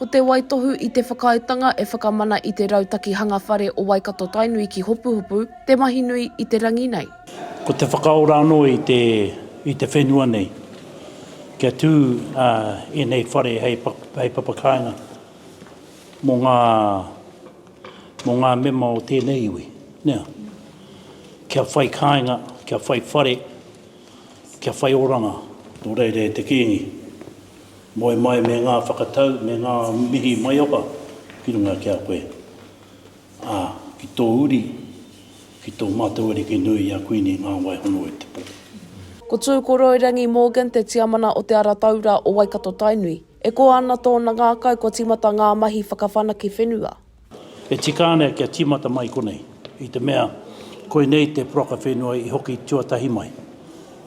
Ko te waitohu i te whakaaetanga e whakamana i te Rautaki Hanga Whare o Waikato-Tainui ki Hopuhopu te mahi nui i te rangi nei. Ko te whakaora anō i te i te whenua nei kia tū ēnei whare hei papakāinga mō ngā mō ngā mema o tēnei iwi, nē. Kia whai kāinga, kia whai whare, kia whai oranga nō reira e te Kīngi. Moe mai me ngā whakatau me ngā mihi maioha ki runga ki a koe, ā, ki tō uri, ki tō mātou ariki nui a Kuini Ngāwaihono-o-te-pō. Ko Tūkoroirangi Morgan te tiamana o Te Ara Taura o Waikato-Tainui. E koa ana tōna ngākau kua tīmata ngā mahi whakawhanake whenua. E tika ana kia tīmata mai konei, i te mea, koinei te poraka whenua i hoki tuatahi mai,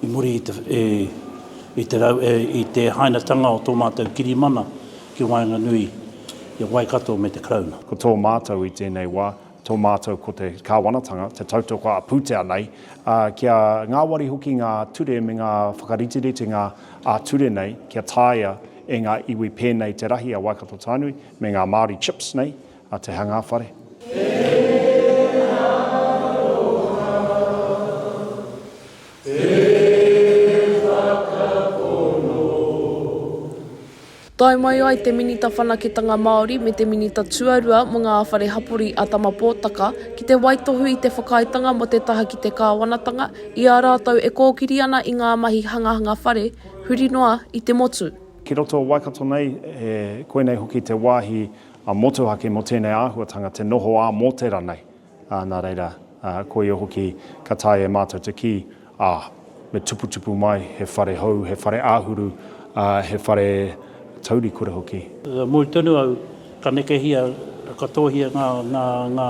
i muri i te, e, i te, rau, e, i te hainatanga o tō mātou kirimana ki waenganui i a Waikato me te Karauna. Ko tō mātou i tēnei wā, tō mātou ko te Kāwanatanga, te tautoko a pūtea nei, ā, kia ngāwari hoki ngā ture me ngā whakariteritenga ā-ture nei kia taea e ngā iwi pēnei te rahi a Waikato Tainui, Me ngā Māori chips nei a Te Hanga Whare. Tae mai ai te Minita Whanaketanga Māori me te Minita Tuarua mō ngā Whare Hapori a Tama Potaka ki te waitohu i te whakaaetanga mō te taha ki te kāwanatanga i a rātou e kōkiri ana i ngā mahi hangahanga whare huri noa i te motu. Ki roto o Waikato nei, e koinei hoki te wāhi motuhake mō tēnei āhuatanga te noho ā mō te ranei. Nā reira, koia hoki ka taea e mātou te kī, ā, me tuputupu mai he whare hou, he whare āhuru, ā, he whare taurikura hoki. Ka moe tonu au, ka nekehia, ka tōhia ngā, ngā, ngā,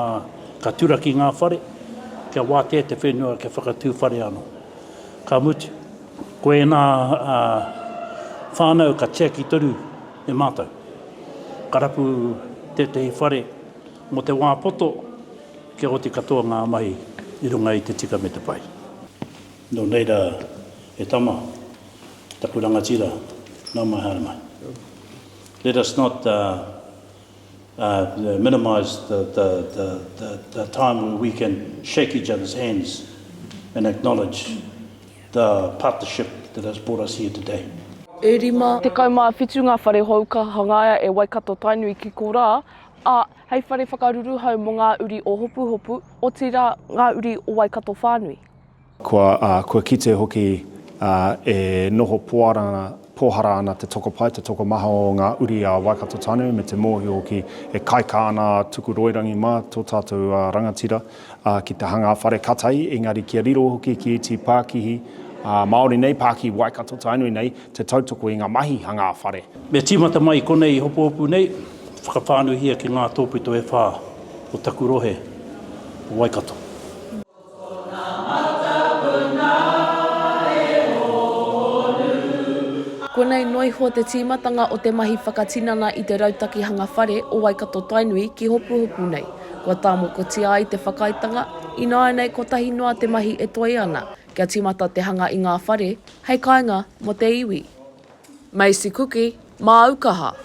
ka turaki ngā whare, kia wātea te whenua kia whakatū whare anō. Ka mutu. Ko ēnā whānau ka tiaki tonu e mātou. Ka rapu tētehi whare mō te wā poto kia oti katoa ngā mahi i runga i te tika me te pai. Nō reira e tama, taku rangatira, nau mai haere mai. Let us not minimise the time where we can shake each other's hands and acknowledge The partnership that has brought us here today. E rima tekau mā whitu ngā whare hou ka hangaia e Waikato-Tainui ki korā, ā, hei whare whakaruruhau mō ngā uri o Hopuhopu, otirā, ngā uri o Waikato whānui. Kua, ā, kua kite hoki, ā, e noho poara ana, pōhara ana te tokopae, te tokomaha o ngā uri a Waikato-Tainui me te mōhio hoki e kaika ana a Tukuroirangi mā, tō tātou rangatira. Ā, ki te hanga a Whare Katai, engari kia riro hoki ki ētahi pākihi, ā, Māori nei, pākihi Waikato-Tainui nei, te tautoko i ngā mahi hanga a Whare. Me tīmata mai konei hopohopu nei, whakawhānuihia ki ngā tōpito e whā o taku rohe o Waikato. Konei noa iho te tīmatanga o te mahi whakatinana i te Rautaki Hanga Whare o Waikato-Tainui ki hopohopu nei. Kua tāmokotia ai te whakaaetanga, ināianei kotahi noa te mahi e toe ana, kia tīmata te hanga i ngā whare, hei kāinga mō te iwi. Macy Kuki, māu kaha.